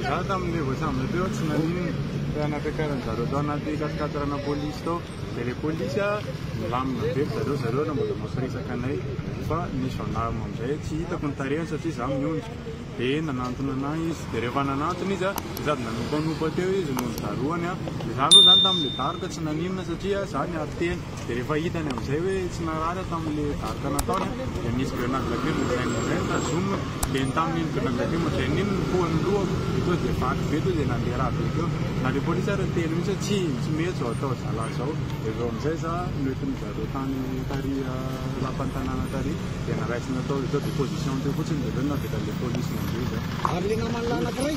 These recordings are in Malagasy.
Izaho tamin'ilay vao sambatra teo tsy nanino e, fa nampihakaran'ny zareo tao anaty kasikadràna polisy tao, dia ilay polisy a nilamina be ry zareo, zareo no mbola mampiresaka anay, fa ny gendarme amin'izay tsy hitako ny tarehiny satria izaho miondrika, dia nanantona anà izy, dia rehefa nanantona izy a dia sady nanopanopa teo izy no nidarohany a, dia izaho aloha izany tamin'ilay daroka tsy naninona satria izaho niaro tena. Dia rehefa hitany amin'izay hoe tsy narary aho tamin'ilay daroka nataony dia nisy grenady lacrime ohatr'izay nozainy tazomina dia iny tamin'iny grenady lacrime ohatr'izay iny no poa ny lohako dia tonga dia vaky be tonga dia nandeha rà be teo na ilay polisy ary niteny mihitsy hoe tsy tsy mety izao atao zalahy izao dia avy eo amin'izay za noentin'ny zareo tany tary lapan'ny tanàna tary dia naraisina tao dia tonga dia position teo fotsiny dia avy eo navela ilay polisy nandeha izay ary ilay naman'ilay anankiray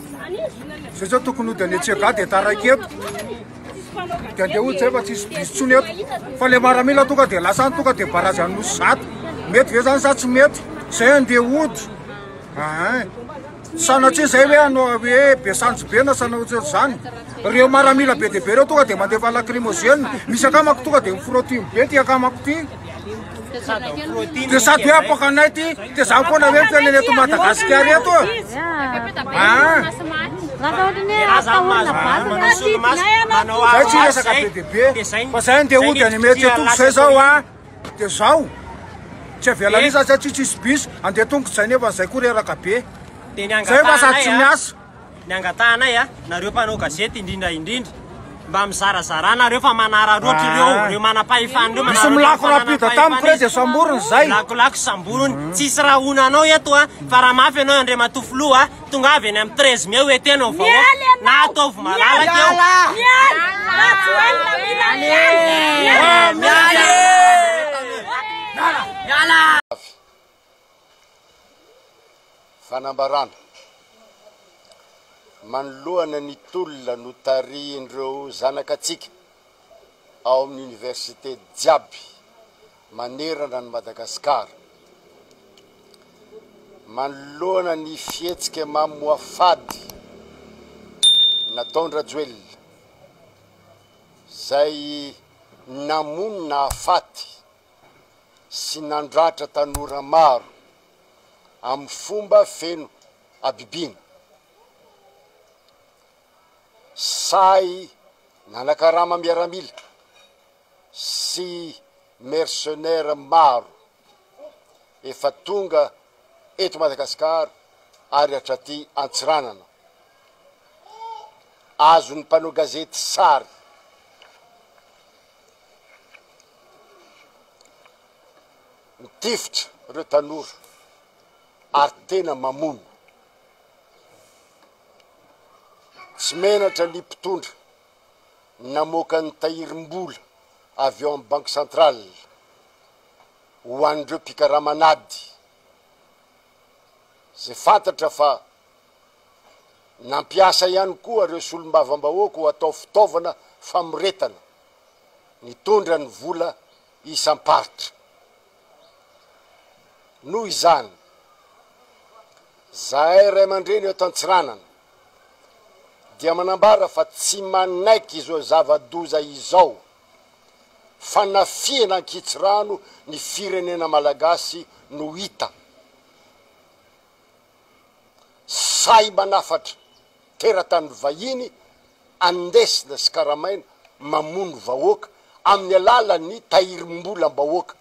Zay zao tokony hody any Antsiaga dia taraiky eto. Dia andeha hody zay fa tsisy bisy tsony eto. Fa le maramila tonga dia lasa any tonga dia barazy any nosy zato. Mety ve zany sa tsy mety? Zay andeha hody. Ah, sanatria zay hoe anao hoe be sanjy be na sanao tsy zany. Reo maramila be dia be reo tonga dia mandefa lacrymogène. Misy akamako tonga dia mifrotty be ty akamako ty. Dia sady hoe apoaka anay ty, dia za koa na hoe ny fiainana eto Madagasikara eto e. Ah. Zay tsy resaka be dia be, fa zay ndeha hody any mety etoko zay zao ah. Dia zao, tsy avela eh. misy zay tsy tsisy bis, andeha tongotra zay nefa zay koa reraka be. Zay fa sady tsy miasa. Ny angatahanay a, nareo mpanao gazety indrindra indrindra, mba mizarazara nareo fa manararoatra ireo ireo manam-pahefana ireo, manararoatra ireo manam-pahefana ireo, misy milako rapide tamiko reto dia samboriny izay, milakolako samboriny, tsisy raha honanao eto a, fa raha mafy ianao Andriamatoa Filoha a, tongava eny amin'ny treize mai hoeteno ny vahoaka, na ataovy malalaka eo, miala, Rajoelina mila miala, miala, miala. fanambarana manoloana ny tolona notarihin'ireo zanakatsika ao amin'ny Université jiaby manerana an'i Madagasikara manoloana ny fihetsika mamoafady nataon-dRajoelina izay namono nahafaty sy nandratra tanora maro amin'ny fomba feno habibiana. Sahy nanakarama miaramila sy mercenaires maro efa tonga eto Madagasikara ary hatraty Antsiranana. Azon'ny mpanao gazety sary. Mitifitra ireo tanora ary tena mamono. Tsy menatra ny mpitondra namoaka ny tahirim-bola avy ao amin'ny Banky Centrale ho an'ireo mpikarama an'ady izay fantatra fa nampiasa ihany koa ireo solombavambahoaka ho atao fitaovana famoretana. nitondra ny vola isam-paritra. Noho izany, zahay ray aman-dreny eto Antsiranana dia manambara fa tsy manaiky izao zava-doza izao fanafihana ankitsirano ny firenena malagasy no hita. sahy manafatra teratany vahiny andesina sy karamaina mamono vahoaka amin'ny alalan'ny tahirimbolam-bahoaka,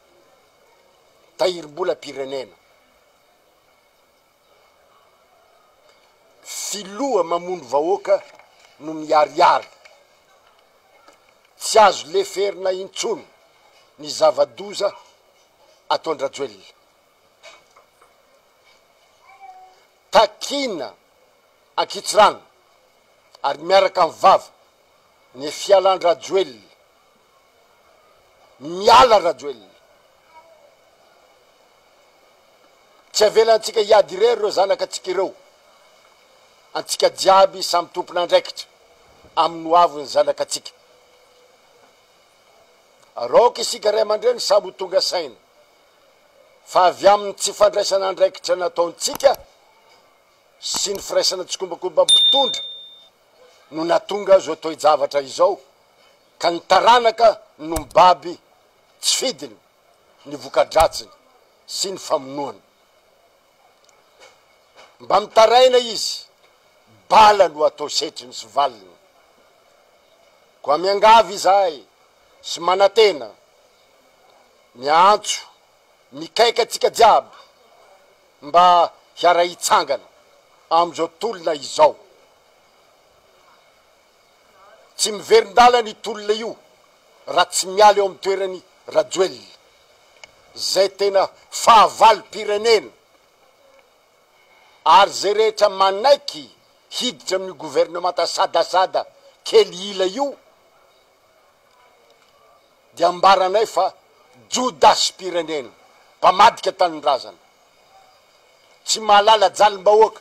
tahirimbolam-pirenena. Filoha mamono vahoaka no miharihary. Tsy azo leferina intsony ny zava-doza ataon-dRajoelina. Takiana ankitsirano ary miaraka amin'ny vava ny fialan-dRajoelina. Miala Rajoelina. Tsy avelantsika hiady irery ireo zanakatsika ireo. Antsika jiaby samy tompon'andraikitra amin'ny hoavin'ny zanakatsika. Araoka isika ray aman-dreny samy ho tonga saina fa avy amin'ny tsy fandraisana andraikitra nataontsika sy ny firaisana tsikombakomban'ny mpitondra no nahatonga izao toe-javatra izao ka ny taranaka no mibaby tsy fidiny ny voka-dratsiny sy ny famonoana Mba mitaraina izy, bala no atao setriny sy valiny. Koa miangavy izahay sy manantena, miantso, mikaika antsika jiaby mba hiara-hitsangana amin'izao tolona izao. Tsy miverin-dalana io tolona io raha tsy miala eo amin'ny toerany Rajoelina. Zay tena fahavalom-pirenena ary zay rehetra manaiky hiditra amin'io governemanta sadasada kely ila io dia ambaranay fa jodasim-pirenena, mpamadika tanindrazana, tsy mahalala jalim-bahoaka.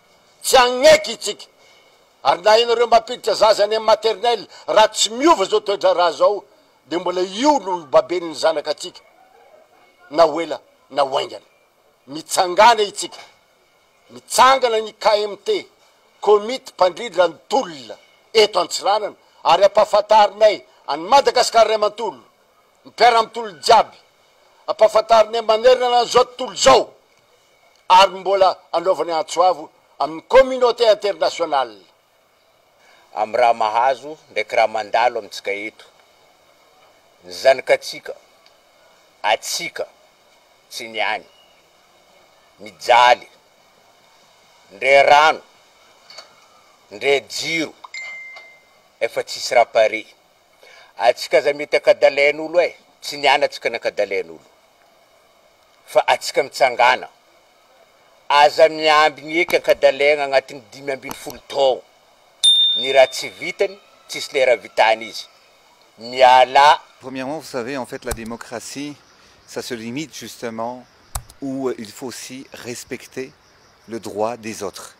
Tsy hagnaiky itsika. Ary na ianareo mampiditra zaza any amin'ny maternelle, raha tsy miova izao toedraharaha izao, dia mbola io no ho baben'ny zanakatsika, na ho ela na ho haingana. Mitsangàna itsika. Mitsangana ny KMT, Komity Mpandrindra ny Tolona, eto Antsiranana, ary ampahafantarinay an'i Madagasikara iray manontolo, Mpera am tolony jiaby ampafantarinay manerana an zao tontolo zao ary mbola anaovany antso avo aminy communauté internationale am raha mahazo ndraiky raha mandalo amitsika eto ny zanakatsika atsika tsy ny any mijaly ndre rano ndre jiro efa tsisy raha pare. Atsika aza mety akadalain'olo eh! Tsy ny ana tsika nakadalain'olo fa atsika mitsangana. Aza miambigny eky ankadalaigna agnatin'ny dimy ambin'ny folo taogno. Ny raha tsy vitany, tsisy lera vitany izy. Mialà. Premièrement vous savez en fait la démocratie ça se limite justement où il faut aussi respecter le droit des autres.